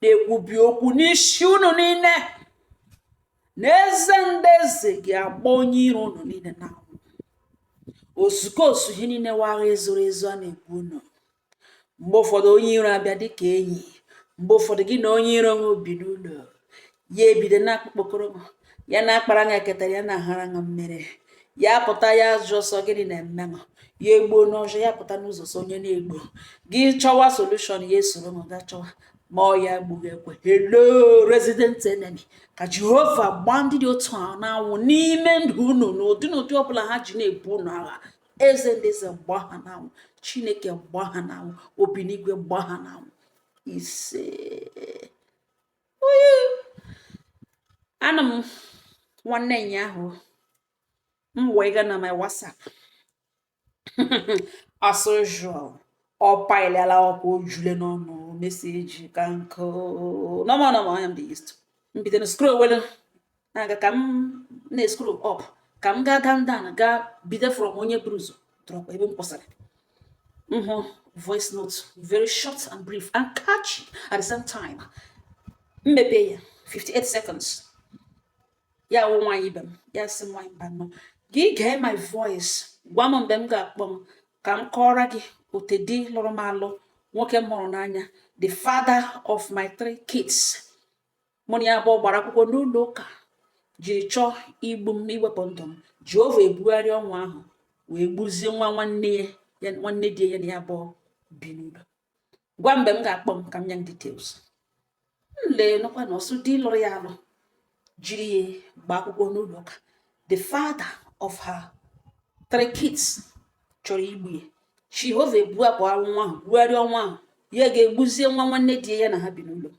na-ekwubi okwu n'isi unu niile na eze ndị eze ga-agba onye iro unu niile n'anwụ ozuko osu ihe niile wụ agha ezoro ezo a na-ebu unu mgbe ụfọdụ onye iro abịa dịka enyi mgbe ụfọdụ gị na onye iro ebi n'ụlọ ya ebido na-akpụkpọkọrọ m ya na-akpara ṅa ketara ya na-ahara ṅa mmiri ya pụta ya jụ ọsọ gịnị na-eme m ya egbuo n'ọzọ ya pụta n'ụzọ sị onye na-egbu gị chọwa solushọn ya esoro m ga chọwa ma ọ ya gbu gị ekwe hello resident enemy ka jehova gbaa ndị dị otu a n'anwụ n'ime ndụ unu n'ụdị n'ụdị ọbụla ha ji na-ebu unu agha eze ndị eze gbaa ha n'anwụ chineke gbaa ha n'anwụ obi n'igwe gbaa ha n'anwụ ise ana m nwanne ụnyaahụ m wee gaa na my whatsapp as usual ọ paịlịala ọkwa ojule n'ọnụ meseji ka nkụ normal normal anya m dị used m bido na scroll welu na-aga ka m na-escroll up ka m gaa down down gaa bido from onye buru ụzọ drop ebe m kwụsịrị m hụ voice note very short and brief and catchy at the same time m mepee ya 58 seconds ya wụ nwaanyị ibe m ya sị nwaanyị mbano gị gee my voice gwa m mgbe m ga-akpọ m ka m kọọrọ gị ote di lụrụ m alụ nwoke m hụrụ n'anya the father of my three kids mụ na ya abụọ gbara akwụkwọ n'ụlọ ụka jiri chọọ igbu m iwepụ ndụ m jehova ebugharịa ọnwụ ahụ wee gbuzie nwa nwanne ya nwanne di ya na ya abụọ bi n'ụlọ gwa m mgbe m ga-akpọ m ka m nye m details m lee nụkwa na ọ sị di lụrụ ya alụ jiri ya gbaa akwụkwọ n'ụlọ ụka the father of her three kids chọrọ igbu ya jehova ebupụ ọnwụ ahụ bugharịa ọnwụ ahụ ya ga-egbuzie nwa nwanne di ya na ha bi n'ụlọ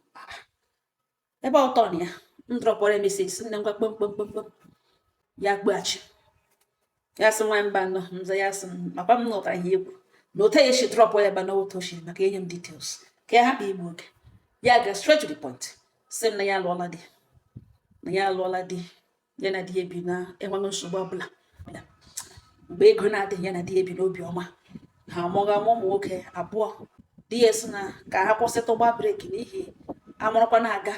ebe ọtọ na ya m drọpụrụ ya meseji sị nne ngwa kpọọ m kpọọ m kpọọ m kpọọ m ya akpọghachi ya sị nwaanyị mbano m za ya sị m ọkwa m nụtara ihe egwu na otu ya esi drọpụ ya bụ na otu o siri maka enye m details ka ya hapụ igbu oge ya ga straight to the point sị m na ya alụọla di na ya alụọla di ya na di ya bi na-enweghị nsogbu ọbụla mgbe ego na-adịghị ya na di ya bi n'obi ọma ha amụọ ụmụ nwoke abụọ di ya sị na ka ha kwụsịtụ gba breki n'ihi a mụrụkwa na-aga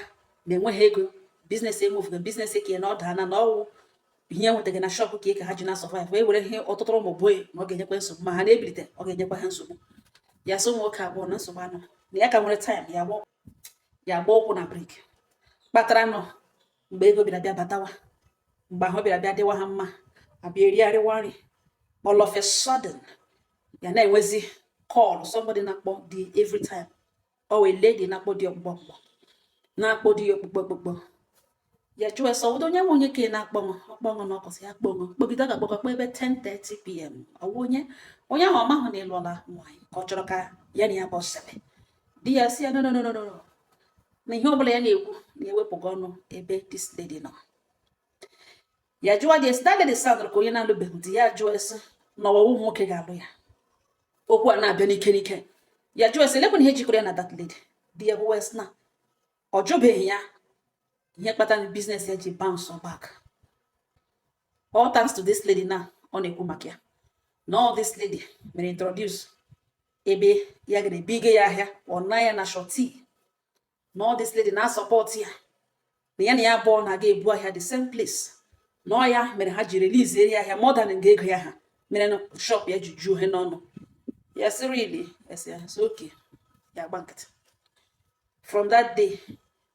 na enweghị ego biznes emuvughị biznes ka na-ada na ọ wụ ihe e nwetara na shọpụ ka ka ha ji na sọvaịv wee were ihe ọtụtụ ụmụ boy na ọ ga-enyekwa nsogbu ma ha na-ebilite ọ ga-enyekwa ha nsogbu ya sị ụmụ nwoke abụọ na nsogbu anọ na ya ka e were taịm ya gba ụkwụ na breki kpatara nọ mgbe ego bịara bịa batawa mgbe ahụ bịara bịa dịwa ha mma a bịa erigharịwa nri all of a sudden ya na-enwezi call somebody na-akpọ di every time o nwee lady na-akpọ di ọkpụkpọ ọkpụkpọ na-akpọ di ya ọkpụkpọ ọkpụkpọ ya jụọ sị ọ wụdị onye nwe onye ka ị na-akpọṅụ ọkpọṅụ na ọkọsị ya kpọṅụ kpọgide ga akpọkọ ebe 10:30 pm ọ wụ onye onye ahụ ọ mahụ na ị lụọla nwaanyị ka ọ chọrọ ka ya na ya bụ sebe di ya sị ya no no no no na ihe ọbụla ya na-ekwu na-ewepụga ọnụ ebe this lady nọ ya jụọ di ya sị that lady soundra ka onye na-alụbeghị di ya jụọ ya sị na ọ wụ wụ nwoke ga-alụ ya okwu a na-abịa n'ike n'ike ya jụọ ya sị olekwanụ ihe jikọrọ ya na that lady di ya gwawa ya sị na ọ jụbeghị ya ihe kpatara business ya ji bounce back all thanks to this lady na ọ na-ekwu maka ya na ọ this lady mere introduce ebe ya gara ebigo ya ahịa ọ nọ ya na surety na ọ this lady na-asupport ya na ya na ya abụọ na-aga ebu ahịa the same place na ọ ya mere ha ji releasere ya ahịa more than nga ego ya ha mere na shop ya ji juo ihe n'ọnụ ya sị really ya sị yes okay ya gba nkịtị from that day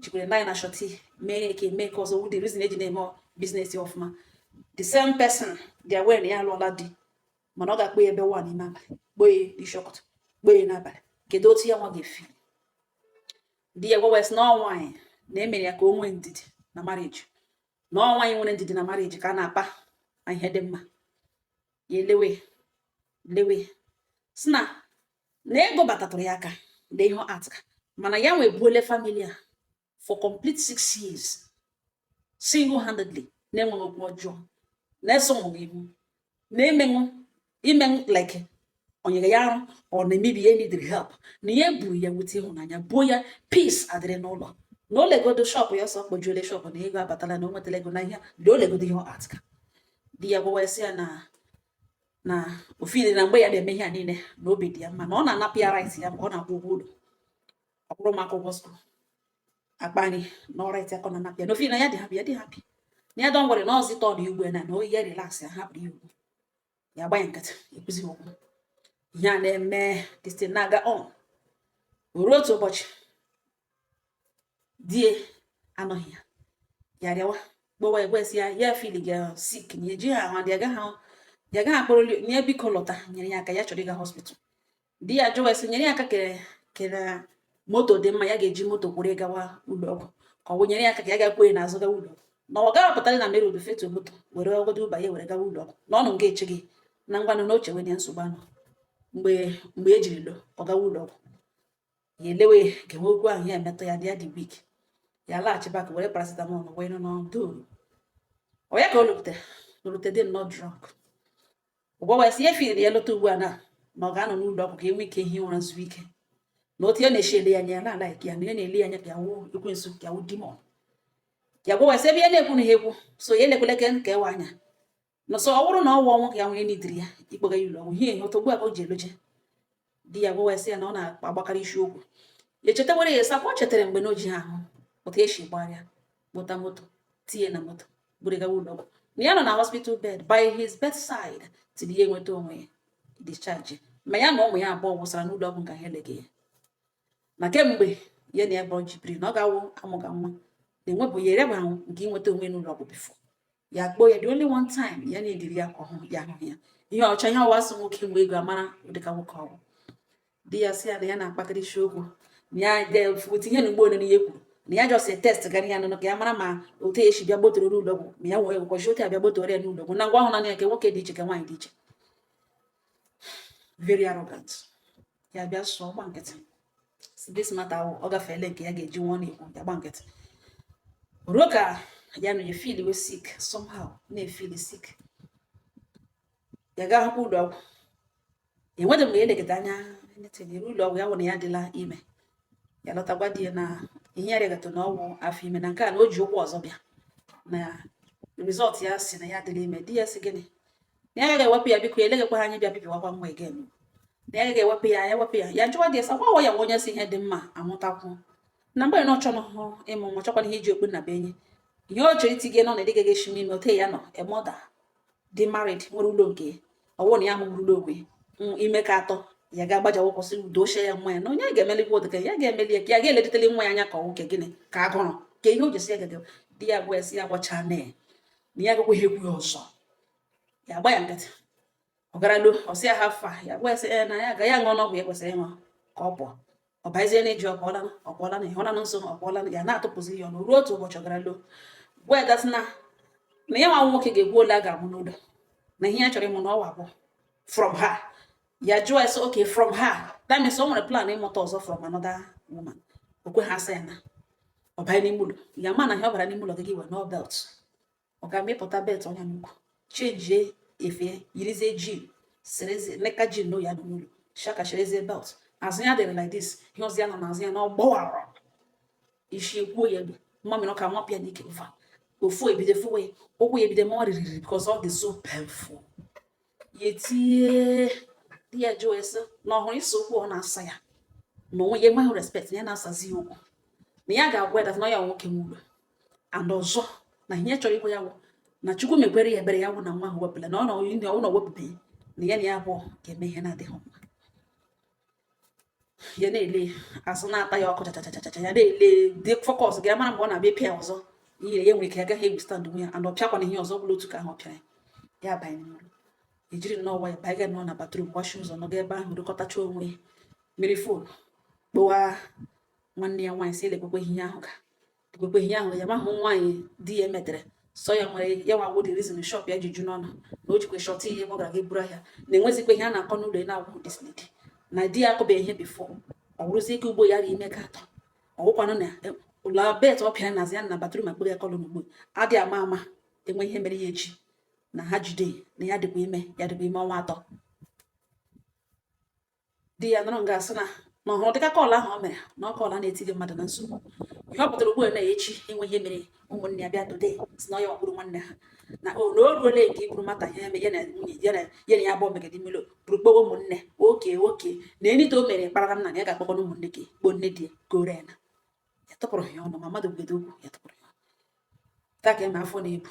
jikwere ndị anyị na surety mee eke mee ka ọzọ wụ the reason eji na-eme business ọfụma the same person dị aware na ya alụọla di mana ọ ga-akpọ ya ebe one n'ime abalị kpọọ ya ishi ụtụtụ kpọọ ya n'abalị kedu otu ya nwa ga-efeel di ya gwawa sị na ọ nwaanyị na-emere ya ka o nwee ndidi na marriage na ọ nwaanyị nwere ndidi na marriage ka a na-akpa ihe dị mma ya elewe lewe sị na na ego batatụrụ ya aka na ihe atụka mana ya nwe buole family a for complete six years single handedly na-enweghị okwu ọjọọ na-eso ụmụ ihu na-emenwụ imenwụ like o nyere ya arụ ọ na-emebi ya needịrị help na ya eburu ya with ịhụnanya buo ya peace adịrị n'ụlọ na o legodo shop ya ọ stockjuole shop na ego abatala na o nwetara ego na ihe na o legodo ihe ọ atụka di ya gwawa ya na na o feeli na mgbe ya na-eme ihe a niile na obi dị ya mma na ọ na-anapụ ya right ya mgbe ọ na-akwụ ụgwọ ụlọ akwụrụ ụmụaka ụgwọ school akpa nri na ọ right ya ka ọ na-anapụ ya na o feeli na ya dị happy ya dị happy na ya don't worry na ọ zi turn ya igwe na na oyi ya relax ya hapụrụ ya okwu ya gba ya nkịtị ekwuzi okwu ihe a na-eme distin na-aga on ruo otu ụbọchị di ya anọghị ya ya rịawa gbawa ekwesị ya ya feeliga sick na ejiha ahụ ya gaghị ya gaghị akpọrọ di ya biko lọta nyere ya aka ya chọrọ ịga hospital di ya jụwa sị nyere ya aka kere kere moto dị mma ya ga-eji moto kwụrụ gawa ụlọ ọgwụ ka ọ nyere ya aka ka ya ga kwọọ ya n'azụ gawa ụlọ ọgwụ na ọ gaghị apụtara na mere odufetu moto were order uber ya were gawa ụlọ ọgwụ na ọnụ nke eche gị na ngwanụ na oche wenye nsogbu anụ mgbe mgbe ejiri lo ọ gawa ụlọ ọgwụ ya elewe gewe okwu ahụ ya emetụ ya dị ya dị weak ya laghachi back were paracetamol wee ṅụọ nọdụ ọ ya ka ọ lọrute lọrute dị nnọọ drunk ọ gwawa sị ya efiri ya lọta ugbu a na na ọ ga-anọ n'ụlọ ọgwụ ka ya nwee ike hie ụra zuo ike na otu ya na-eshi ele ya anya ya na-alike ya na ya na-ele ya anya ka ya wụ ekwensu ka ya wụ demon ya gwawa ya sị ebe ya na-ekwu na ha ekwu so ya elekwele ke ka ewe anya na so ọ bụrụ na ọ wụ ọnwụ ka ya nwere n'idiri ya ịkpọga ya ụlọ ọgwụ ihe ihe otu ugbu a ka o ji eloje di ya gwawa sị ya na ọ na-agbakarị isi okwu ya echetawara ya sakwa o chetara mgbe na o jighị ahụ otu ya si gbara kpụta moto tinye na moto buru gawa ụlọ ọgwụ na ya nọ na hospital bed by his bedside till ya enweta onwe ya discharge ma ya na ụmụ ya abụọ wụsara n'ụlọ ọgwụ nka ha eleghị ya na kemgbe ya na ya bụrụ ji biri na ọ ga-awụ amụga nwa na enwebụ ya erebaghị nke inweta onwe n'ụlọ ọgwụ before ya kpọọ ya the only one time ya na-ediri ya ka ọhụ ya hụ ya ihe ọcha ihe ọ wụ a sị nwoke mgbe ego amara dịka nwoke ọ wụ di ya sị ya na ya na-akpatara isi okwu na ya tinye na ugbo ole na ihe kwuru na ya just test gara ya nụnụ ka ya mara ma otu e si bịa gbotoro n'ụlọgwụ ma ya nwee ụbọchị otu a bịa gbotoro ya n'ụlọgwụ na ngwa ahụ na ya nke nwoke dị iche nke nwaanyị dị iche very arrogant ya bịa so gba nkịtị this matter ọ gafeela nke ya ga-eji nwa na-ekwu ya gba nkịtị ruo ka ya na-afeel we sick somehow na-afeel sick ya gaa hụkwa ụlọ ọgwụ enweta mgbe ya elekọta anya netere ụlọ ọgwụ ya wụrụ na ya adịla ime ya lọta gwa di ya na ihe ya rịagata na ọ wụ afọ ime na nke a na o ji ụgwọ ọzọ bịa na result ya sị na ya adịla ime di ya sị gịnị na ya ga-ewepụ ya biko ya eleghịkwa ha anyị bịa bibiwakwa nwa again na ya ga-ewepụ ya ya wepụ ya ya jụwa di ya sị gwawa ya nwa onye si ihe dị mma amụtakwu na mgbe na ọ chọrọ hụ ịmụ nwa chọkwana ihe iji okpu nnabuenyi ihe ọ chọrọ itinye nọ na ịdịghị gị eshime ime ote ya nọ emoda dị married nwere ụlọ nke ọ wụ na ya amụrụ ụlọ onwe ime nke atọ ya ga-agbaja ka ọ kwụsị udo echie ya nwa ya na onye ga-emelikwa ụdịka ya ga-emeli ya ka ya ga-eledetele nwa ya anya ka ọnwụ ka gịnị ka agụrụ ka ihe o jesi ya gaga di ya gwa ya sị ya gwachaa na ya na ya agakwaghị ekwu ya ọzọ ya agba ya nkịtị ọ gara lo ọ sị ya how far ya gwa ya sị na ya agala ṅụọ ọgwụ ya kwesịrị ịṅụ ka ọ pụọ ọ bịazie na-ajụ ọ pụọla ọ pụọla na ị hụla na nsọ ọ pụọla ya na-atụpụzi ya ọnụ ruo otu ụbọchị ọ gara lo gwa ya sị na na ya nwa wụ nwoke ga-ekwu ole a ga-amụ n'ụlọ na ihe ya chọrọ ịmụ na ọ wụ abụọ from her ya jụọ ya sị okay from her that means o nwere plan ịmụta ọzọ from another woman o kweghị asa ya na ọ banye n'ime ụlọ ya mana ihe ọ bara n'ime ụlọ gị gị wee nọọ belt ọ ga mịpụta belt o nya n'ukwu chenjie efe yirizie jean serezi leka jean n'oyi adị n'ụlọ shaka sherezie belt azụ ya dịrị like this ihe ọzọ ya nọ n'azụ ya na ọgbọwara isi ekwuo ya ebe mmamịrị ọka nwapịa n'ike ụfụ ụfụ ebido fụwa ụkwụ ya ebido maa ririri because ọ dị so painful ya etie di ya jụọ sị na ọ hụrụ isi okwu ọ na-asa ya na onwe ya enweghị respect na ya na-asazi ya okwu na ya ga-agwa ya na ya wụ nwoke nwe ụlọ and ọzọ na ihe chọrọ ikwu ya wụ na chukwu mekwere ya ebere ya wụ na nwa ahụ ebuola na ọ wụ na o bubeghị na ya na ya abụọ ga-eme ihe na-adịghị mma ya na-ele azụ na-ata ya ọkụ chachachachacha ya na-ele dị focus ga mara mgbe ọ na-abịa pịa ọzọ ihe ya nwere ike ya agaghị e-withstand onwe ya and ọ pịakwana ihe ọzọ bụla otu ka ahụ ọ pịara ya ya banye n'ụlọ jiri nnọọ nwayọ banye ga nọ na bathroom gbachi ụzọ nọga ebe ahụ rịkọtacha onwe were phone kpọwa nwanne ya nwaanyị sị ya lekwekwe ihe ahụ ka ekwekwe ihe ahụ ya mahụ nwaanyị di ya emetere sọ ya nwere ya nwa wụ the reason shop ya ji ju n'ọnụ na o jikwe short ihe ọ gara ga buru ahịa na-enwezikwa ihe a na-akọ n'ụlọ ya na-agwa this lady na di ya akụbeghị ya ihe before ọ wụrụzi nke ugbu a ya dị ime ka atọ ọ wụkwanụ na e, ụlọ belt ọ pịara nazi ya na bathroom akpọrọ ya call n'ugbu a adị ama ama enwe ihe mere ya echi na ha jide na ya dịkwa ime ya dịkwa ime ọnwa atọ di ya nọrọ nga asị na na ọ hụrụ dịka call ahụ o mere na ọ call a na-etinye mmadụ na nsogbu ihe ọ pụtara ugbu a na echi enwe ihe mere ụmụnne ya bịa dode si na ya gburu nwanne ha na o na o ruole nke iburu matter ya eme ya na nwunye ya na ya na ya abụọ megide milo buru kpọwa ụmụnne oke oke na anything o mere kparara m na ya ga-akpọkọ na ụmụnne gị kpọọ nne di ya gore na ya tụpụrụ ya ọnụ ma mmadụ gwede okwu ya tụpụrụ ya taa ka eme afọ na-ebu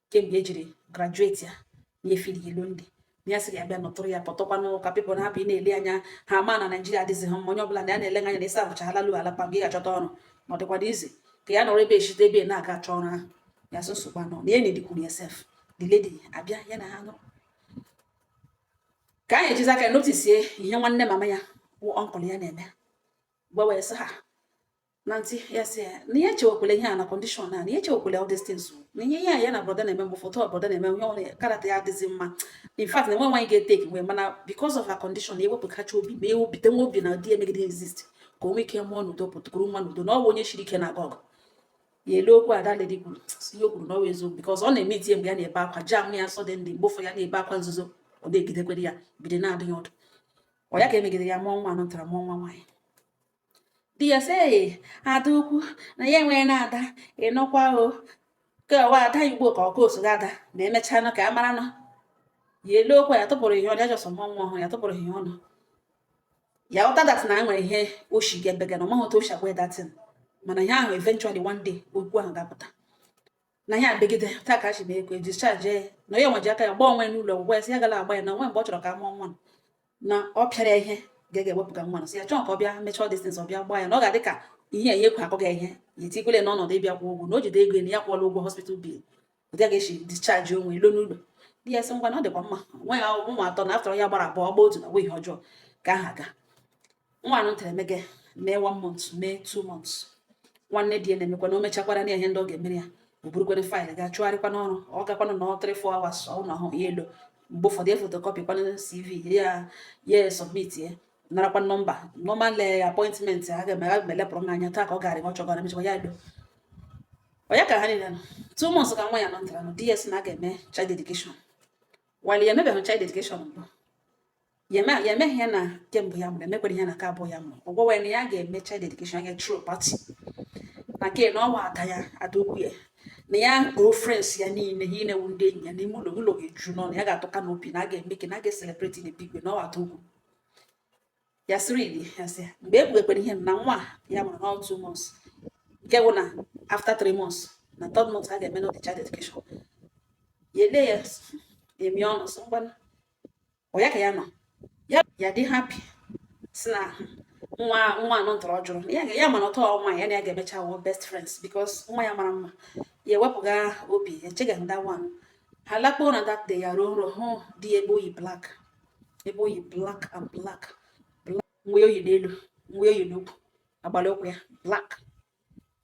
kemgbe o jiri graduate ya ya na-efeel lonely ya sị ya bịa nọtụrụ ya pụtụkwanụ ka people na-apụ ị na-ele anya ha ma na naijiria adịghị ha mma onye ọbụla na ya na-ele anya na ịsa ahụcha ala lu ala pa mgbe ị ga-achọta ọrụ ma ọ dịkwado easy ka ya nọrọ ebe eshite ebe na-aga achọ ọrụ ahụ ya sị nsogbu anọ na ya na-edikwuru ya sef the lady abịa ya na ha nọrọ ka anyị ejizi aka noticie ihe nwanne mama ya wụ uncle ya na-eme gwa wee sị ha na ntị ya sị ya na ya echewekwala ihe a na condition a na ya echewekwala all these things na ihe ihe a ya na brother na-eme mgbe ụfọdụ brother na-eme ihe ọ wụ character ya adịghị mma in fact na enwe nwaanyị ga-etake mgbe mana because of her condition ya ewepụkacha obi ma ewepụta nwa obi na di emegide exist ka o nwee ike mụọ n'udo pụta kuru nwa n'udo na ọ bụ onye shiri ike na gọg ya elee okwu a the lady kwuru ihe o kwuru na ọ eziokwu because ọ na-eme itinye mgbe ya na-ebe akwa jam ya suddenly mgbe ụfọdụ ya na-ebe akwa nzuzo ọ na-ejidekwere ya bido na-adụ ya ọdụ ọ ya ka emegide ya mụọ nwa anụ tara mụọ nwa nwaanyị di ya sị ee ada ukwu na ya enweghị na ada ịnụkwa o ka ọ wụ ada igbo ka ọ wụ osoghi ada ma emechanụ ka a mara nọ ya eloo okwu ya tụpụrụ ihe ọnụ ya jọsọ mụọ nwa ọhụrụ ya tụpụrụ ihe ọnụ ya aghọta that na nwere ihe o shi ga-ebega na ọ maghị otu o shi agwa that thing mana ihe ahụ eventually one day okwu ahụ ga-apụta na ya ebegide taa ka achịba ego discharge ya na ya nwe ji aka ya gba onwe n'ụlọ ọgwụgwọ ya si ya gala agba ya na onwe mgbe ọ chọrọ ka a mụọ nwa na ọ pịara ya ihe ga ga-ewepụga nwa na si ya chọọ ka ọ bịa mechaa this thing ọ bịa gbaa ya na ọ ga-adị ka ihe ya ekwe akọ gị ihe ya etikwele n'ọnọdụ ịbịa kwụ ụgwọ na o jide ego na ya kwụọla ụgwọ hospital bill ọ dịghị esi discharge onwe ilo n'ụlọ di ya sị ngwa na ọ dịkwa mma nwa ya ụmụ atọ na afọ ya gbara abụọ gba otu na nweghị ọjọọ ka aha aga nwa anụ tere emege mee one month mee two months nwanne di ya na-emekwa na o mechakwara na ihe ndị ọ ga-emere ya o burukwana faịlụ ga chụgharịkwa n'ọrụ ọ gakwanụ na ọ three four hours ọ na ọhụ ya elo mgbe ụfọdụ ya fotokọpị kwanụ cv ya ya submit ya narakwa nọmba normal eh, appointment a ga-emelepụrụ m anya taa ka ọ gara ọ chọgara mechakwa ya elo ọ ya ka ha niile nọ two months ka nwa ya nọ ntara nọ ds na a ga-eme child dedication while ya emebeghị child dedication mbụ ya emeghị ya na nke mbụ ya mụrụ emekwere ya na nke abụọ ya mụrụ ọgwọ wee na ya ga-eme child dedication ya throw party na ke na ọ wụ ada ya ada ukwu ya na ya kpọọ friends ya niile ha inewu ndị enyi ya n'ime ụlọ ụlọ ga-eju n'ọnụ ya ga-atọ canopy na a ga-eme ke na a ga-eselebreti in a big way na ọ wụ ada ukwu ya sịrị ili ya sị mgbe ekpughekwere ihe na nwa ya mụrụ na two months nke bụ na after three months na third month a ga-eme nọ the child dedication ya ele ya emi ọnụ sị ngwa ọ ya ka ya nọ ya dị happy si na nwa nwa anọ ntọrọ jụrụ ya mana o too nwa ya na ya ga-emecha wụ best friends because nwa ya mara mma ya ewepụga obi echeghị nda nwa ha lakpuo na that day ya rọọ nrọ hụ di ya ebe o yi black ebe o yi black and black nwe o yi n'elu nwe o yi n'ukwu agbara ụkwụ ya black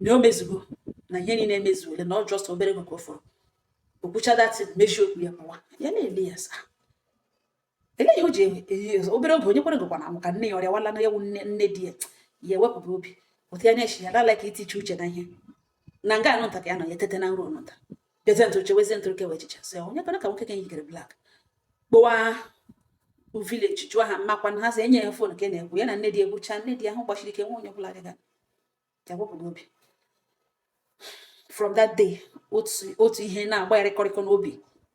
na o mezugo na ihe niile emezuole na ọ just obere ego ka ọ fọrọ o kwuchaa that thing mechie okwu ya pụwa ya na-ele ya saa ele ihe o ji obere oge onye kwere gwakwa na amụ ka nne ya ọrịa wala na ya wụ nne nne di ya ya ewepụba obi otu ya na-echi ya lala ka itiche uche na ihe na nga anụ nta ka ya nọ ya tete na nrọ nta bịazie ntụrụ chewezie ntụrụ chewe echiche sị onye kwere ka nwoke ka yikere black kpọwa village jụọ ha mmakwa na ha sị enye ya phone ka na-ekwu ya na nne di ekwucha nne di ahụ gbachiri ike nwa onye ọbụla dịga ya wepụ n'obi from that day otu ihe na-agba ya rịkọrịkọ n'obi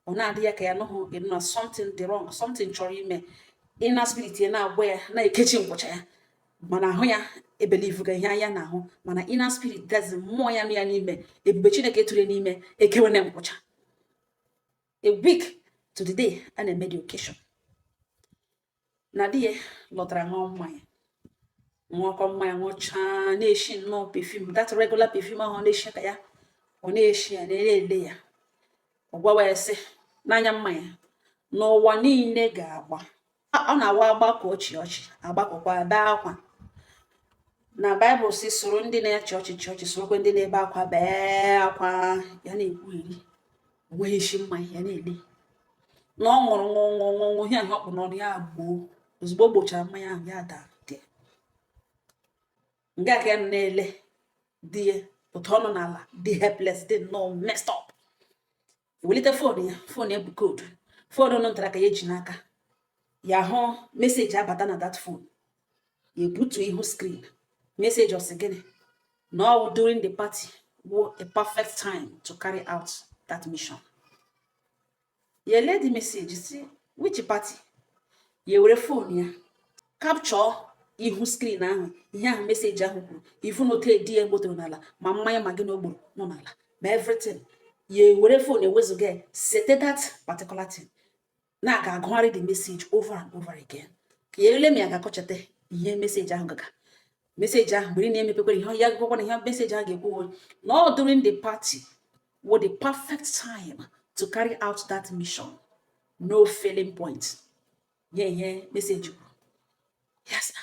ọ na-adị ya ka ya nụghị na something dị wrong something chọrọ ime inner spirit ya na-agba ya na-ekechi nkwụcha ya mana ahụ ya ebelivuga ihe anya na-ahụ mana inner spirit that is mmụọ ya nọ ya n'ime ebube chineke tụrụ n'ime ekewene nkwụcha a week to the day a na-eme the occasion na di ya lọtara ṅụọ mmanya ṅụọkọ mmanya ṅụchaa na-eshi nnọọ perfume that regular perfume ahụ na-eshi ka ya ọ na-eshi ya na-ele ya ọ gwawa ya sị n'anya mmanya na ụwa niile ga-agba ọ na-awa agbakọọ chịa ọchị agbakọkwa ada akwa na baịbụl si soro ndị na-achị ọchị chịa ọchị sorokwe ndị na-ebe akwa bee akwa ya na-ekwugheri o nweghị isi mmanya ya na-ele na ọ ṅụrụ ṅụọ ṅụọ ṅụọ ṅụọ ihe ahụ ọ kpụ n'ọnụ ya gbọọ ozugbo gbọchara mmanya ahụ ya daa dị nga ka ya na-ele di ya otu ọ nọ n'ala dị helpless dị nnọọ messed up welite fon ya fon ya bụ koodu fon nụ ntara ka ya ji n'aka ya hụ meseji abata na that phone ebutu ihu screen meseji ọ sị gịnị na ọ wụ during the party wụ a perfect time to carry out that mission ya lee the message si which party ya were fon ya capture ihu screen ahụ ihe ahụ meseji ahụ kwuru ifu na otu di ya gbọtọrọ n'ala ma mmanya ma gịnị ọ gbọrọ n'ala ma everything ya were fon ewezụga ya sete that particular thing na-aga agụgharị the message over and over again na-ele ma ya ga-akọchata ihe meseji ahụ gaga meseji ahụ mgbe ị na-emepekwara ihe ya gụwakwa na ihe meseji ahụ ga-ekwu na ọ during the party wụ the perfect time to carry out that mission no failing point nye ihe meseji kwuru yes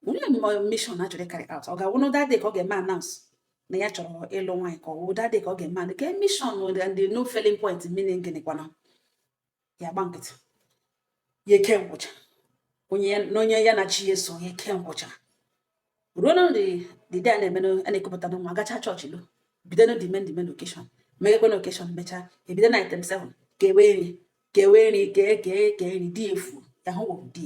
olee mission a chọrọ ịcarry out ọ ga-awụ na ọ that day ka ọ ga-eme announce na ya chọrọ ịlụ nwaanyị ka ọ wụ that day ka ọ ga-eme anụ ka mission ndị no failing point meaning gịnị kwana ya gba nkịtị ya eke nkwụcha onye na onye ya na chi ya so ya eke nkwụcha ruo na the d-day a na-eme a na-ekupụta nwa gacha chọọchị lọọ bido na the main the main occasion meghekwe na occasion mechaa ebido na item 7 kewe nri kewe nri kee kee kee nri di efu ya hụ wụ di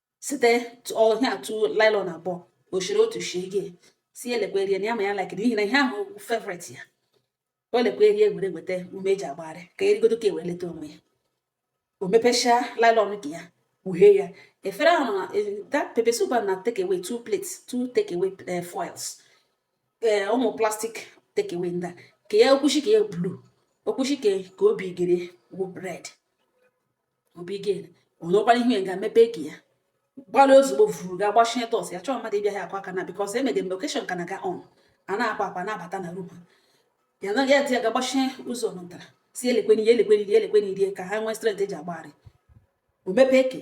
site ọhịa atụ nylon abụọ ọ chịrị otu shie gị si elekwe rie na ya ma ya like n'ihi na ihe ahụ favourite ya o lekwe rie were weta ume eji agbagharị ka erigodo ka eweleta onwe ya o mepechaa nylon nke ya kpughee ya efere ahụ na eh, that pepper soup na take away two plates two take away eh, foils eh, ụmụ plastic take away ndị a ka ya okwuchi ke ya blue okwuchi ke obigere wụ red obigere onwekwara ihe ga mepee ke ya gbara ozugbo vuru ga gbachie door sị ya achọọ mmadụ ịbịa ya akwa aka na because emege mgbe occasion ka na-aga on a na-akwa akwa na-abata na room ya na ya dị ya ga gbachie ụzọ nụtara si elekweni ya elekweni rie elekweni rie ka ha nwee strength eji agbagharị o mepee ke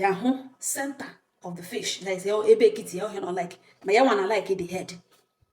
ya hụ center of the fish that is ebe ekiti ya ọhịa na like ma ya nwa na like the head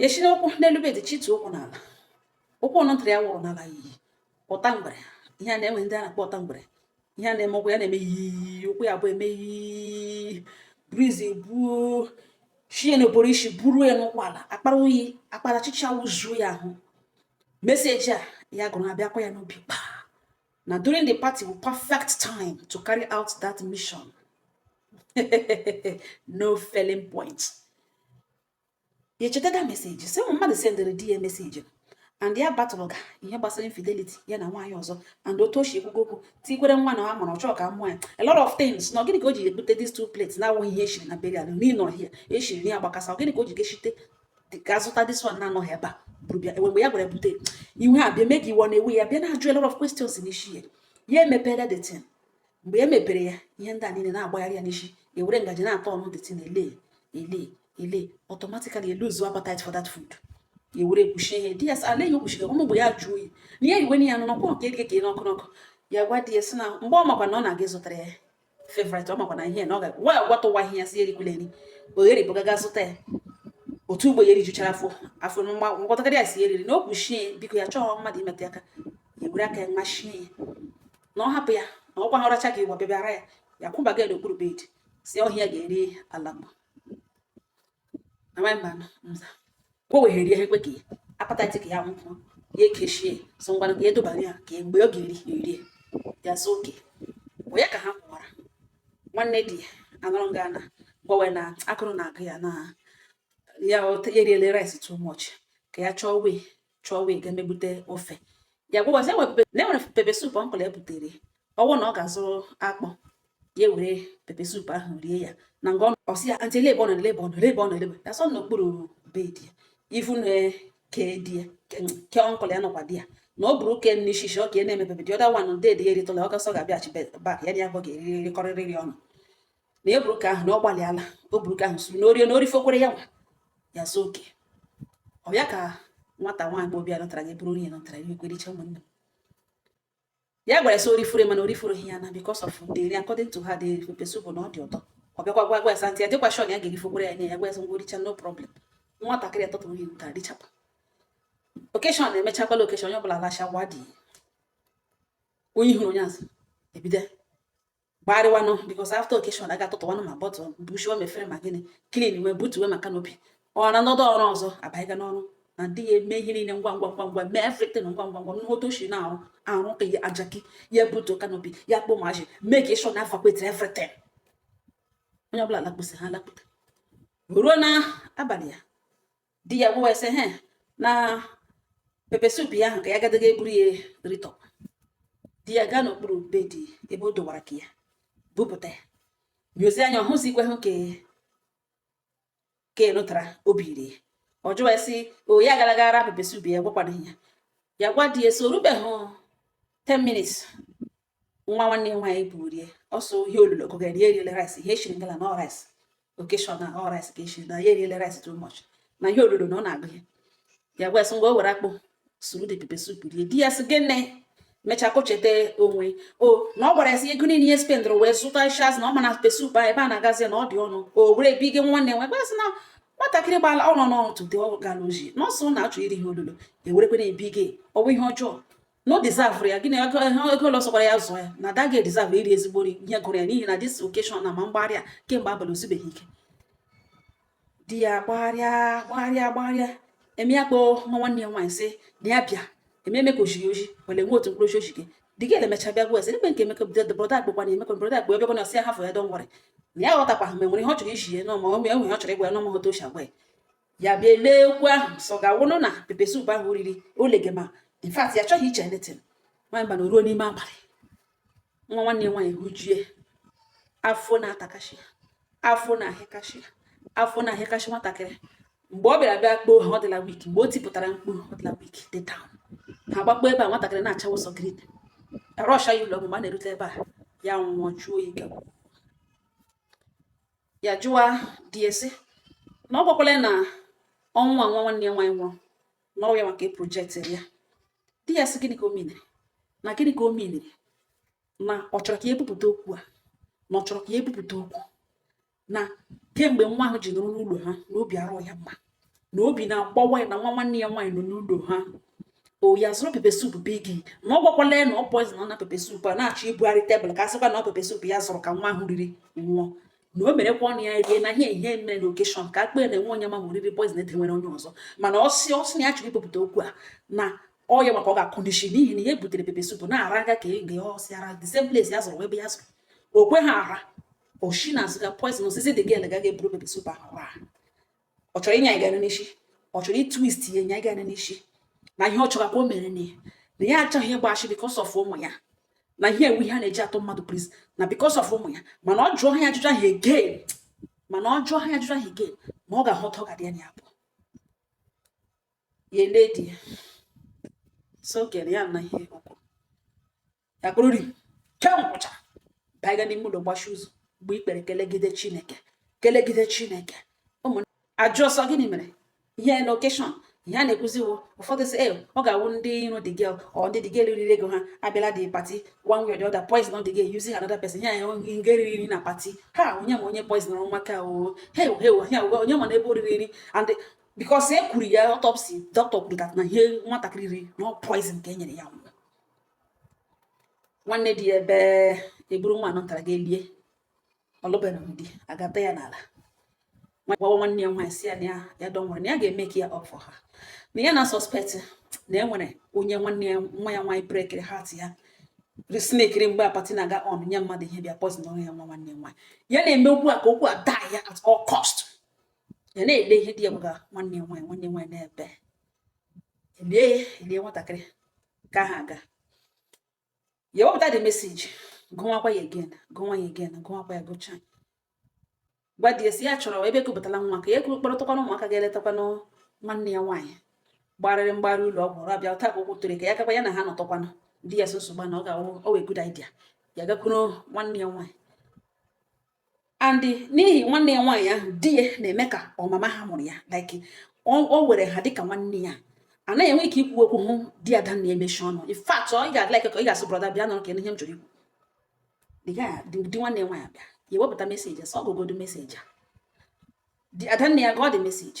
ya si n'ụkwụ n'elu bed chitu ụkwụ n'ala ụkwụ ọnụ ntara ya wụrụ n'ala iyi ụta mgbere ihe a na-enwe ndị a na-akpọ ụta mgbere ihe a na-eme ụkwụ ya na-eme iyi ụkwụ ya bụ eme iyi breeze buo shie n'oboro isi buru ya n'ụkwụ ala akpara oyi akpara chicha wuzuo ya ahụ message a ya gụrụ abịakwa ya n'obi kpa na during the party wụ perfect time to carry out that mission no failing point ya echeta that message si ụmụ mmadụ sendịrị di ya message and ya batụrụ ga ihe gbasara infidelity ya na nwaanyị ọzọ and otu o si ekwugo okwu tikwere nwa na amụrụ ọ chọọ ka mụọ ya a lot of things na gịnị ka o ji ebute these two plates na awụghị ihe eshiri na burial n'ịnọ here eshiri ya gbakasa gịnị ka o ji geshite ga zụta this one na-anọghị ebe a bụrụ bịa mgbe ya gwara bute iwe a bịa mee ka iwe na-ewe ya bịa na-ajụ a lot of questions n'isi ya ya emepere the thing mgbe e mepere ya ihe ndị a niile na-agbagharị ya n'isi ewere ngaji na-atọ ọnụ the thing na ele ele ele automatically ya lose appetite for that food ewere ekpuchie ya sị ala ya okpuchiri ọ wụ mgbe ya jụ oyi na ya iwe na ya nọ n'ọkwa nke dịka ka ị n'ọkụ n'ọkụ ya gwa di ya sị na mgbe ọ makwa na ọ na-aga ịzụtara ya favorite ọ makwa na ihe na ọ ga-agwa ya gwatụwa ihe ya sị erikwula eri oghere bụ gaga zụta ya otu ugbo ya erijuchara afọ afọ mgbatakịrị ya si eriri na o kpuchie biko ya achọghị mmadụ imetụ aka ya were aka ya machie ya na ọ hapụ ya na ọkwa ha ọracha ka ịwa bịa bịara ya ya kwụbaga ya n'okpuru bed sị ọhịa ga-eri ala mgba amaghị mba nza o weghere ihe ekwe ka ya appetite ka ya nwụkwọ ya ekechie so ngwa ka edobara ya ka mgbe ọ ga-eri erie ya so oke onye ka ha kwụwara nwanne di ya anọrọ nga na gwawe na agụrụ na-agụ ya na ya eriele rice too much ka ya chọọ wee chọọ wee ga-emebute ofe ya gwawa sị enwere pepper soup uncle ebutere ọ wụ na ọ ga-azụrụ akpụ ya were pepper soup ahụ rie ya na nga ọ sị ya aunty lebe ọnụ lebe ọnụ lebe ọnụ lebe ya sọ n'okpuru bed ya even ke di ya ke uncle ya nọkwa there na ọ bụrụ oke nne ishishi ọ ka e na-emepebe the other one dị there ya eritụla ọ gasọ ga-abịaghachi back ya na ya bụ ga-erikọrịrị ọnụ na ya buru ke ahụ na ọ gbalịala o buru ke ahụ suru na o rie na o rifokwere ya nwa ya so oke ọ ya ka nwata nwaanyị bụ obi a nọtara gị bụrụ onye nọtara ya ekwere iche ụmụnne ya gwara sị o rifure mana o rifuru ihe ya na because of the nri according to her the pepper soup na ọ dị ụtọ ọ bịakwa gwa gwa ya sị aunty ya dịkwa sure na ya ga-erifokwere ya nye ya gwa ya sị ngwa o richa no problem nwatakịrị atọtụrụ ihe nke adịchapa occasion na-emechakwala occasion onye ọbụla lacha gwa dị onye hụrụ onye azụ ebido gbarịwanụ because after occasion a ga-atụtụwanụ ma bottle bushiwa ma efere ma gịnị clean wee butuwe ma canopy ọ na ndị ọrụ ọzọ abanyega n'ọrụ na ndị ya eme ihe niile ngwa ngwa ngwa ngwa mee everything ngwa ngwa ngwa ngwa otu o shi na-arụ ọrụ ka jaki ya butu canopy ya kpọ maji make sure na evacuate everything onye ọbụla lakpụsị ha lakpụta ruo na abalị ya di ya wee sị he na pepe sup ya ahụ ka ya gadaga eburu ya ritọ di ya gaa n'okpuru bed ebe o dowara ka ya bupụta ya nyozi anya ọ hụzi ikwe hụ ka enụtara obi iri ya ọ jụwa sị onye gara rara pepe sup ya gwakwana ya ya gwa di ya sị o rubeghị 10 minutes nwa nwanne ya nwaanyị buru rie ọ sị ọ ihe olulu ogogo ya eriele rice ihe eshiri ngala na rice occasion na ọ rice ka eshiri na ya eriele rice too much na ihe olulu na ọ na-agụ ya ya wee sị ngwa o were akpụ suru de pepe soup rie di ya sị gịnị mechaa ka o cheta onwe o na ọ gwara ya sị ego niile ihe spendụrụ wee zụta shaz na ọ ma na pepe soup a ebe a na-agazi na ọ dị ọnụ o were ebe ige nwanne nwe gwa sị na nwatakịrị gbala ọnụ n'ụtụtụ dị ọ gara oji na ọ sị ọ na-achọ iri ihe olulu ewerekwana ebi gị ọ bụ ihe ọjọọ na ọ dizavụrụ ya gịnị ego ole sọkwara ya zụọ ya na ada ga edizavụ iri ezigbo nri ihe gụrụ ya n'ihi na this occasion na ma mgbagharị kemgbe abalị o zubeghị ike di ya gbagharịa gbagharịa gbagharịa eme ya kpọọ nwa nwanne ya nwaanyị sị na ya bịa eme eme ka oji ya oji were nwe otu mkpụrụ oji oji gị di gị emecha bịa gwa ese ebe nke emeka bido brọda akpụkwa na emeka brọda akpụ ebe na ọ sị ya hafụ ya don't worry na ya ghọtakwa ha ma nwere ihe ọ chọrọ ịjụ ya n'ọma o nwee ihe ọ chọrọ ịgwa ya n'ọma otu o shi agwa ya ya bịa lee okwu ahụ sị ọ ga-awụnụ na pepe soup ahụ riri olege ma in fact ya chọghị iche anything abnormal n'ime abalị nwa nwanne ya nwaanyị hụjie afọ na-atakashi ya afọ na-ahịakashi ya afọ na-ahịakashi nwatakịrị mgbe ọ bịara bịa kpọọ ha ọ dịla weak mgbe o tipụtara mkpu ọ dịla weak dị down ha gbakpọ ebe a nwatakịrị na-acha ụsọ green a rọsha ya ụlọ ọgwụ mgbe a na-erute ebe a ya nwụọ jụọ oyi gawa ya jụwa di ya sị na ọ gwakwala ya na ọnwụ nwa nwa nwanne ya nwaanyị nwụrụ na ọ wụ ya nwa ka e projektịrị ya di ya sị gịnị ka o miniri na gịnị ka o miniri na ọ chọrọ ka ya ebupụta okwu a na ọ chọrọ ka ya ebupụta okwu na kemgbe nwa ahụ ji nwụrụ n'ụlọ ha na obi arụ ya mma na obi na-agbawa ya na nwa nwanne ya nwaanyị nwụọ n'ụlọ ha ọ ya zụrụ pepe sup be gị na ọ gwakwala ya na ọ poison na pepe sup a na-achọ ibugharị tebụl ka a sịkwa na ọ pepe sup ya zụrụ ka nwa ahụ riri nwụọ na o merekwa ọnụ ya rie na ihe ihe mere na occasion ka akpee na enwe onye ma o riri poison e tinyere onye ọzọ mana ọ sị ọ sị na ya chọrọ ibupụta okwu a na ọ ya nwa ka ọ ga-akụ n'ishi n'ihi na ihe butere pepe sup na-ara aga ka ege ọsị ara the same place ya zụrụ ebe ya zụrụ o kwe ha ara oshi na azụga poison osisi dị gị elega ga-eburu pepe sup ahụ ọ chọrọ ịnya ịga n'isi ọ chọrọ ịtwist ya ịnya ịga n'isi na ihe ọ chọrọ ka o mere na ya na ya achọghị ịgba ashị because of ụmụ ya na ihe a wụ ihe a na-eji atụ mmadụ prison na because of ụmụ ya mana ọ jụọ ha ajụjụ ahụ again mana ọ jụọ ha ajụjụ ahụ again ma ọ ga-ahụta ọ ga-adị ya na ya abụọ ya ele di ya so kere ya na ihe okwu ya kpụrụ ri kemgwụcha baiga n'ime ụlọ gbachi ụzọ gbuo ikpere kelegide chineke kelegide chineke ụmụ ajụ ọsọ gịnị mere ihe na occasion ihe a na-ekwuziwo ụfọdụ sị e ọ ga-awụ ndị iro the girl or ndị the girl riri ego ha abịala the party one way or the other poisonuo the girl using another person ya nga e riri nri na party ha onye ma onye poisonụrụ maka o he he onye ma na ebe oriri nri and because e kwuru ya autopsy doctor kwuru that na ihe nwatakịrị riri na poison ka e nyere ya nwụ nwanne di ebe e buru nwa anọtara ga elie ọlụbere di agata ya n'ala gwawa nwanne ya nwaanyị sị ya na ya don't worry na ya ga-eme ka ya ọfọ ha na ya na suspect na e nwere onye nwanne ya nwa ya nwaanyị breakiri heart ya sneakiri mgbe party na-aga on nye mmadụ ihe bịa poisonuoro ya nwa nwanne ya nwaanyị ya na-eme okwu a ka okwu a die at all cost ya na-ele ihe di ya gwaga nwanne ya nwaanyị nwanne ya nwaanyị na-ebe lie ya lie nwatakịrị ka ha aga ya wepụta the message gụwakwa ya again gụwa ya again gụwakwa ya gụcha gwa die sị ya chọrọ ebe ekupụtala nwa ka ya ekuru kpọrọtakwana ụmụaka gaa letakwanụ nwanne ya nwaanyị gbarịrị mgbarị ụlọ ọgwụ ọrụ abịa ụta ka ụkwụ tụrụ ka ya gakwa ya na ha nọtụkwanụ di ya so nsogbu na ọ ga-awụ ọ wụ a good idea ya gakwuru nwanne ya nwaanyị and n'ihi nwanne ya nwaanyị ahụ di ya na-eme ka ọ mama ha mụrụ ya like o were ha dịka nwanne ya anaghị enwe ike ikwu okwu hụ di adanne ya emechi ọnụ in fact ọ ị ga-adị like ka ị ga-asị brother bịa nọrọ ka ihe m chọrọ ikwu di nwanne nwaanyị bịa ya ewepụta message sị ọ gụgodu message a adanne ya gụọ the message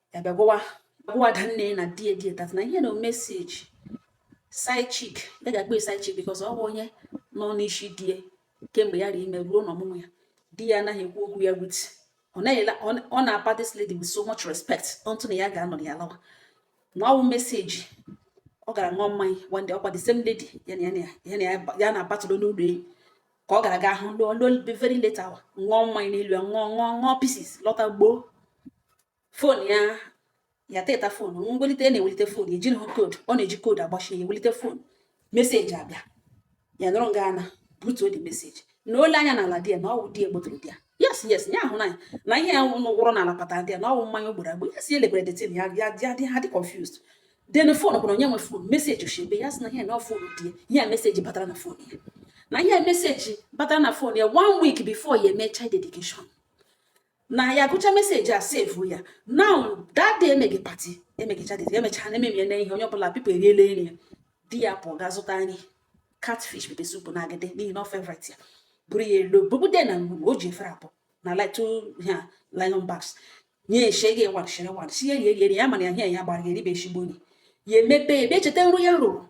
ya bịa gwawa agwa adanne na die that na ihe na message side chick ya ga-akpọ side chick because ọ bụ onye nọ n'isi die kemgbe ya rie ime ruo n'ọmụmụ ya di ya anaghị ekwu okwu ya with ọ na-apa this lady with so much respect until na ya ga-anọ ya lawa na ọ wụ message ọ gara ṅụọ mmanya one day ọ kwa the same lady ya na ya na-abatụrụ n'ụlọ enyi ka ọ gara nga ahụ until very late hour ṅụọ mmanya n'elu ya ṅụọ ṅụọ ṅụọ pieces lọta gbọọ phone ya ya teta phone mwelite na-ewelite phone ejiri hụ code ọ na-eji code agbachi ya ewelite phone message abịa ya nọrọ nga ana butuo the message na-ele anya n'ala di ya na ọ wụ di ya gbọtọrọ di ya yes yes ya ahụ n'anya na ihe ya wụrụ n'ala kpata di ya na ọ wụ mmanya ọ gbọrọ agbọ ya si elekwere the thing ya ya dị ha dị confused then phone bụrụ onye nwe phone message oshibe ya sị na ihe na phone di ya message batara na phone ya na ihe message batara na phone ya one week before ya eme child dedication na ya gụcha message a save ya now that day emeghe party emeghe child dedication emechaa na ememie na ihe onye ọbụla people eriela nri ya di ya pụọ ga zụta nri catfish pepper soup na agidi n'ihi na ọ favorite ya buru ya elu bụbude na o ji efere abụọ na light ha nylon bags nye eshe gị wadshịrị wadshị ya rie rie ya mana ya hie ya gbara ya eribe eshigbo gị ya emepe ebe cheta nrọ ya rọrọ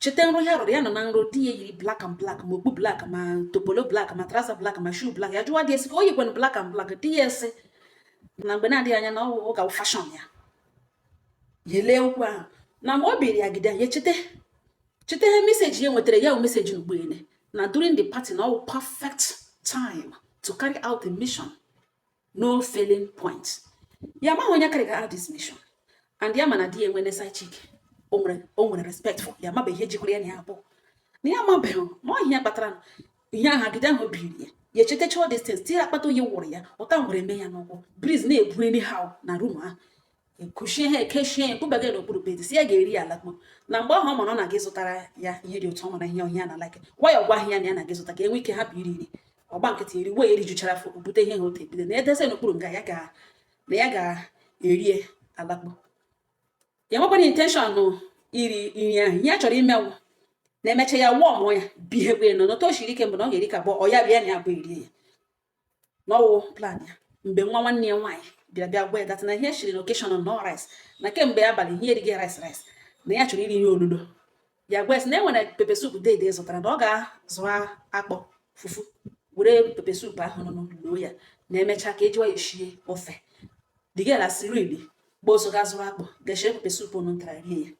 cheta nrọ ya rọrọ ya nọ na nrọ di ya yiri black and black ma okpu black ma topolo black ma trouser black ma shoe black ya jụwa di ya sị ka o yikwana black and black di ya asị na mgbe na-adịghị anya na ọ ụka fashion ya ya lee okwu ahụ na mgbe ọ biri ya gide ya cheta cheta ihe meseji ya nwetara ya meseji n'ugbene na during the party na ọ wụ perfect time to carry out the mission no failing point ya maghị onye carry ga out this mission and ya mana di ya enwene side chick o nwere respect for ya mabeghị ihe jikọrọ ya na ya abụọ na ya mabeghị ma ọ ihe kpatara ihe ahụ agide ahụ biri ya ya echetacha all these things tiri akpata oyi wụrụ ya ụta ngwere eme ya n'ụkwụ breeze na-ebu anyhow na room ahụ kụchie ihe ekechie ya kpụbaga n'okpuru bed sị ya ga-eri ya alakpo na mgbe ahụ ọ mara na-aga ịzụtara ya ihe dị ụtọ ọ mara ihe ọ ya na-like gwa ya ọ gwa ya na ya na-aga ịzụta ka o nwee ike hapụ iri iri ọ gba nkịtị eri wee erijuchara afọ bute ihe ha otu ebido na edeze n'okpuru nga ya ga na ya ga-erie alakpo ya nwekwana intention iri nri ahụ ihe ya chọrọ ime wụ na emecha ya wụọ mụọ ya bihekwe nọ n'otu o shiri ike mbụ na ọ ga-eri ka abụọ ọ ya bịa na ya bụ erie ya na ọ wụ plan ya mgbe nwa nwanne ya nwaanyị bịara bịa gwa ya that na ihe e shiri n'occasion nụ rice na kemgbe abalị ihe erigha rice rice na ya chọrọ iri ihe olulo ya gwa ya sị na e nwere pepe soup dede zụtara na ọ ga-azụ akpụ fufu were pepe soup ahụ nụ loo ya na emechaa ka e jiwa ya eshie ofe the girl a sirili gbaa ọsọ ga zụrụ akpụ ga shie pepe soup nụ ntara rie ya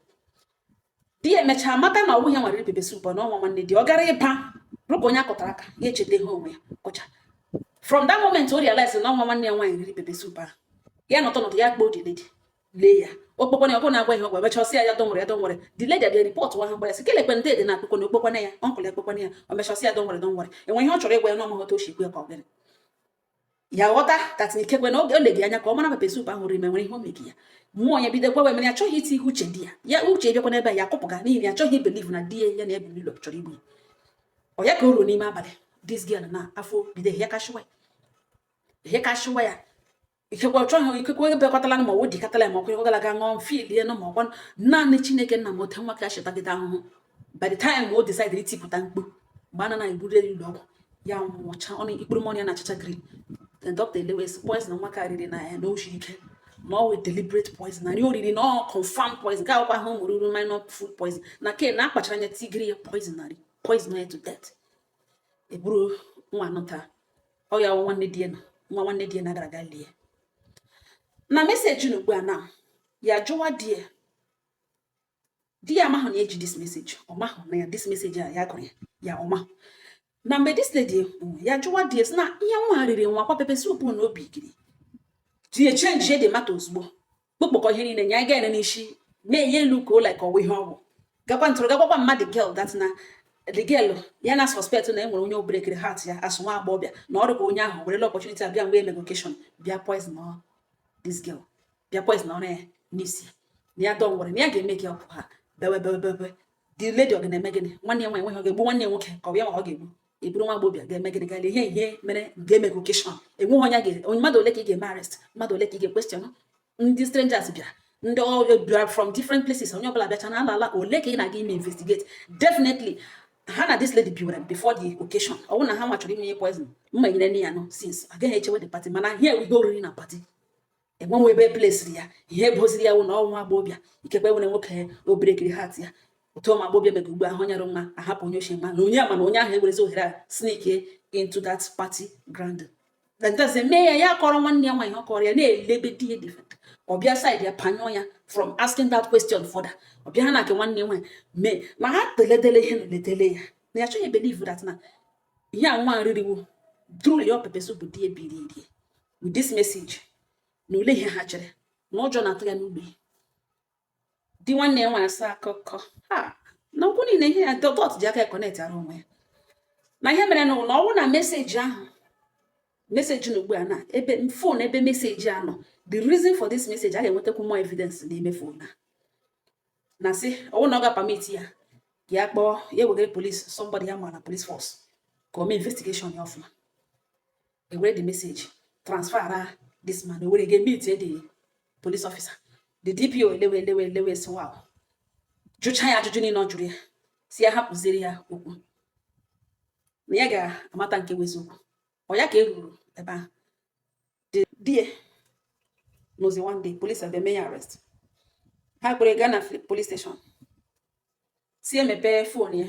di ya emechaa mata na ọ bụghị ya nwere pepe soup na ọ nwa nwanne di ọ gara ịba rụka onye a kọtara aka ya echeta ihe onwe ya kọcha from that moment o realize na ọ nwa nwanne ya nwaanyị riri pepe soup ahụ ya nọtọ nọtọ ya kpọọ the lady lee ya ọ kpọkwana oku na-agwa ihe ọ gwa emecha ọ sị ya ya don't worry ya don't worry the lady abịa report ahụ gbara sị kelekwe ndị dị na akpụkọ na ọ kpọkwana ya uncle ya kpọkwana ya o mecha ọ sị ya don't worry don't worry o nwe ihe ọ chọrọ ịgwa ya na ọ ma ghọta o si ekwe ka ọ gịnị ya ghọta that na ikekwe na oge o legi anya ka ọ mara pepe soup ahụ riri ma o nwere ihe o megi ya mmụọ ya bido gwawa mana ya achọghị itinye uche di ya ya uche bịakwa n'ebe ya akụpụga n'ihi na ya chọghị ibelieve na di ya na ya bi n'ụlọ chọrọ igbu ya ọ ya ka o ruo n'ime abalị this girl na afọ bido ihe kashiwa ya ihe kashiwa ya ikekwe ọ chọghị ikekwe onye bịakọtala ma ọ dị katala ma ọ kwụnyegwagala ga ṅụọ mmili ya na ma ọ kwa naanị chineke nna ma otu nwa a shi tagide ahụhụ by the time o decide itipụta mkpu mgbe a na-aga eburu ụlọ ọgwụ ya nwụcha ọnụ ikpuru mọnụ ya na-achacha green the doctor elewe sị poison nwa ka riri na ya na o shi ike na ọ wụ deliberate poison na nri o riri na ọ confirm poison ka akwụkwọ ahụ mụrụ uru minor food poison na ke na a kpachara anya tigiri ya poison na nri poison ya to death eburu nwa nụ ta ọ ya nwanne di ya na nwa nwanne di ya na gara aga lie na meseji na ugbu a na ya jụwa di ya di ya amahụ na eji this message ọ mahụ na ya this message a ya gụrụ ya ya ọ mahụ na mgbe this lady ekwu ya jụwa di ya sị na ihe nwa riri nwa kwa pepper soup na obi giri di ya change-ịa the matter ozugbo kpokpọkọ ihe niile nye anyị ga-ene n'isi na-enye elu ka ụlọ ka ọwa ihe ọgwụ gakwa ntụrụ gagwakwa mmadụ girl that na the girl ya na suspect na enwere onye ọ break-iri heart ya asụ nwa agbọghọbịa na ọrụ ka onye ahụ werela opportunity abịa mgbe e mega occasion bịa poison this girl bịa poison ọrụ ya n'isi na ya dọwụrụ na ya ga-eme gị ọkụ ha bewe bewe bewe the lady ọ ga na-eme gịnị nwanne ya nwaanyị nweghị ọ ga-egbu nwanne ya nwoke ka ọ ya ma ọ ga-egbu eburu nwa agbọghọbịa ga-eme gịnị gaala ihe ihe mere ga-eme gị occasion enweghị onye ga onye mmadụ ole ka ị ga-eme arrest mmadụ ole ka ị ga-equestion ndị strangers bịa ndị ọrụ bịara from different places onye ọbụla bịacha na-ala ala ole ka ị na-aga ime investigate definitely ha na this lady biwere before the occasion ọ bụrụ na ha nwa chọrọ ime ihe poison mma nyere nne ya nọ since agaghị echewe the party mana here we go oriri na party enwenwe ebe place-iri ya ihe e boziri ya wụ na nwa agbọbịa ikekwe nwere nwoke ọ break-iri heart ya otu ụmụ agbọbịa mega ugbu a hụ onye dị mma ahapụ onye ochie mma na onye ama na onye ahụ ewerezi ohere a sneak into that party ground ntazi mee ya ya kọrọ nwanne ya nwaanyị ọ kọrọ ya na-elebe di ya different ọ bịa sị di ya panyụọ ya from asking that question further ọ bịa ha na nke nwanne nwaanyị mee ma ha teledele ihe na letele ya na ya chọghị believe that na ihe a nwa riri wụ through your pepper soup bụ di ya biri with this message na ule ihe ha chere na ụjọ na-atụ ya n'ugbe di nwanne ya nwaanyị asa akụkọ ha na okwu niile ihe ya dot ji aka connect-ara onwe ya na ihe mere na ọ wụ na message ahụ message nọ ugbu a na ebe phone ebe message a nọ the reason for this message a ga-enwetakwu more evidence n'ime phone a na sị ọ wụ na ọ ga-apermit ya ya kpọọ ya wegara police somebody ya ma na police force ka o mee investigation ya ọfụma e were the message transfer this man e were ga meet the police officer the DPO elewe elewe elewe sị wow jụcha ya ajụjụ niile ọ jụrụ ya sị ya hapụziri ya okwu na ya ga-amata nke bụ eziokwu ọ ya ka e ruru ebe ahụ di ya nọzi one day police abịa mee ya arrest ha kpọrọ gaa na police station sị ya mepee phone ya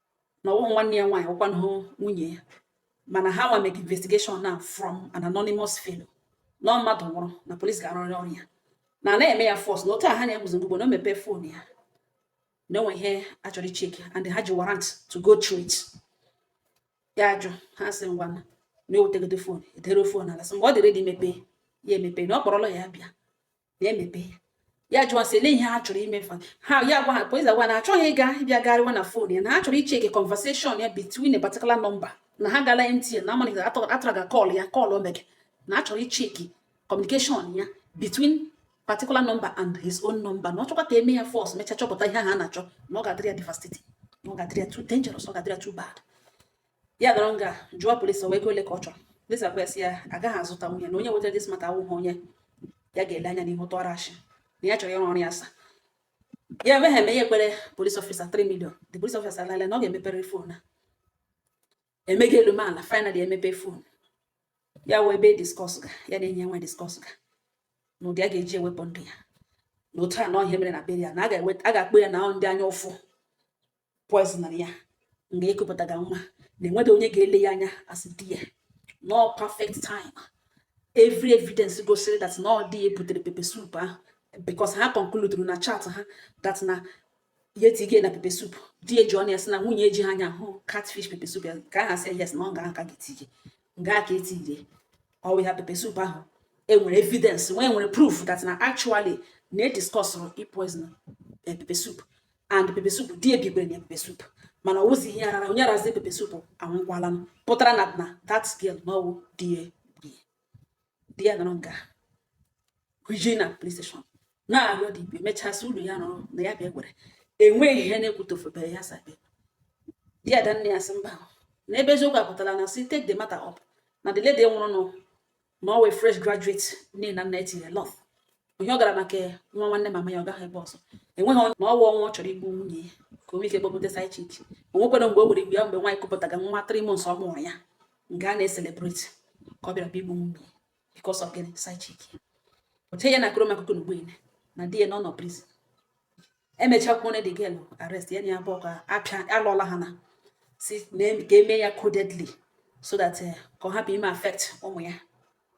na ọ wụghị nwanne ya nwaanyị ọ wụkwahụ nwunye ya mana ha nwa make investigation na from an anonymous fellow na mmadụ nwụrụ na police ga-arụrị ọrụ ya na na-eme ya force na otu a ha na-eguzo ngugbo na o mepee phone ya na o nwe ihe a chọrọ icheck and ha ji warrant to go through it ya ajụ ha sị ngwa na ewetegodu phone edewe phone ala sị mgbe ọ dị ready mepee ya emepe na ọ kpọrọ lawyer bịa na-emepe ya ya jụọ sị lee ihe ha chọrọ ime fa ha ya gwa ha police agwa na achọghị ịga ịbịa garịwa na phone ya na ha chọrọ icheke conversation ya between a particular number na ha gala MTN na amalite atara ga call ya call o mege na a chọrọ icheki communication ya between particular number and his own number na ọ chọkwa ka e mee ya force mecha chọpụta ihe ha na-achọ na ọ ga-adịrị ya devastating na ọ ga-adịrị ya too dangerous ọ ga-adịrị ya too bad ya dọrọ nga jụọ police ọ wụ ego ole ka ọ chọrọ police agwa ya agaghị azụta nwunye na onye wetara this matter awụghị onye ya ga-ele anya n'ihu tụọrọ ashị na ya chọrọ ịrụ ọrụ ya asa ya emega eme ya ekwere police officer 3 million the police officer alala na ọ ga-emepere phone a emega elu mee ala finally emepe phone ya wee ebe discuss ga ya na enyi ya nwe discuss ga na ụdị a ga-eji ewepụ ndụ ya na otu a na ọhịa mere na burial na a ga-akpọ ya na ndị anya ụfụ poisonụrụ ya nga ekupụtaga nwa na enweghị onye ga-ele ya anya asị na ọ perfect time every evidence gosiri that na ọ di ya butere pepe soup ahụ because ha concluduru na chat ha that na ya etige na pepe soup di ya ji ọnụ ya sị na nwunye ya ejiha anya ahụ catfish pepe soup ya ka ha sị yes na ọ ga aka ga etige nga a ka etire ọ wụ ya pepe soup ahụ enwere evidence nwe enwere proof that na actually na e discussụrụ poison eh, pepe soup and pepe soup di ya bigwere na pepe soup mana ọ wụzi ihe arara onye arazi pepe soup anwụkwala m pụtara na na that girl na ọ wụ di ya di ya nọrọ nga hụjie na police station na-arịọ dị ibe mechasị ụlọ ya nọrọ na ya bịa gwere enweghị ihe na-ekwutofebe ya sabe di ada nne ya sị mba na ebe eziokwu apụtara na sị take the matter up na the lady nwụrụ anwụ na ọ wụ fresh graduate nne na nna etinye lot ihe ọ gara maka nwa nwanne mama ya ọ gaghị ebe ọzọ enweghị na ọ wụ ọnwa ọ chọrọ igbu nwunye ya ka o nwee ike kpọpụta side chick o nwekwara mgbe o were igbu ya mgbe nwaanyị kupụtaga nwa three months ọ mụrụ ya nga a na-ecelebrate ka ọ bịara bịa igbu nwunye because of gịnị side chick oche ya na-akọrọ m akụkọ na ugbu a na di ya na ọ nọ prison emechakwuo na the girl arrest ya na ya abụọ ka apịa alụọla ha na-asị ka e mee ya codedly so that eh, ka ọ hapụ ime affect ụmụ ya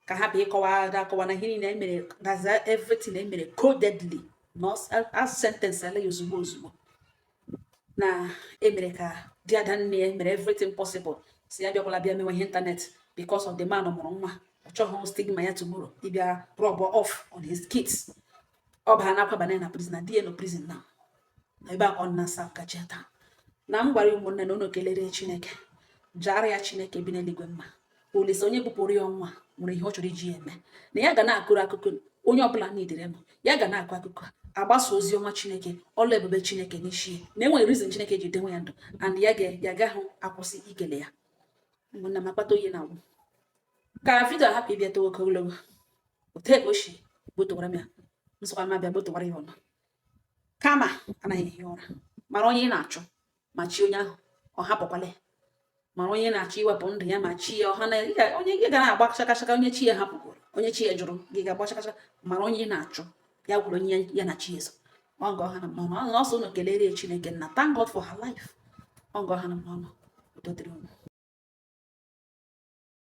ka a hapụ ịkọwa ada akọwa na ihe niile emere gaza everything emere codedly na a sentenceala ya ozugbo ozugbo na emere ka di ada nne ya mere everything possible sị ya bịakwala bịa mewe ihe internet because of the man mụrụ nwa ọ chọghị stigma ya tomorrow ịbịa rub off on his kids ọ baa na akwaba na prison na di ya nọ prison na na ebe a ọ na sa ka cheta na m gwara ụmụnne na unu kelere chineke jaara ya chineke bi n'eluigwe mma olise onye bupụrụ ya ọnwụ nwere ihe ọ chọrọ iji eme na ya ga na-akụrụ akụkọ onye ọbụla na-edere m ya ga na-akụ akụkọ agbasa ozi ọma chineke ọlụ ebube chineke n'isi na enwe reason chineke ji dewe ya ndụ and ya ga ya gaghị akwụsị ikele ya ụmụnna m akpata oyi na agwụ ka vidio hapụ ịbịa towe oke ogologo otu e si gbotowara m ya nsọkwa m abịa gbotowara ya ọnụ kama anaghị ehi ụra mara onye ị na-achụ ma chi onye ahụ ọ hapụkwala ya mara onye ị na-achọ iwepụ ndụ ya ma chi ya ọ hana onye gị ga na-agba chakachaka onye chi ya hapụgoro onye chi ya jụrụ gị ga-agba chakachaka mara onye ị na-achụ ya bụrụ onye ya na chi e so ọgọ ha na mmanụ ọnụ ọsọ ụnụ kelere Chineke na thank God for her life ọgọ ha na mmanụ udo dịrị ụnụ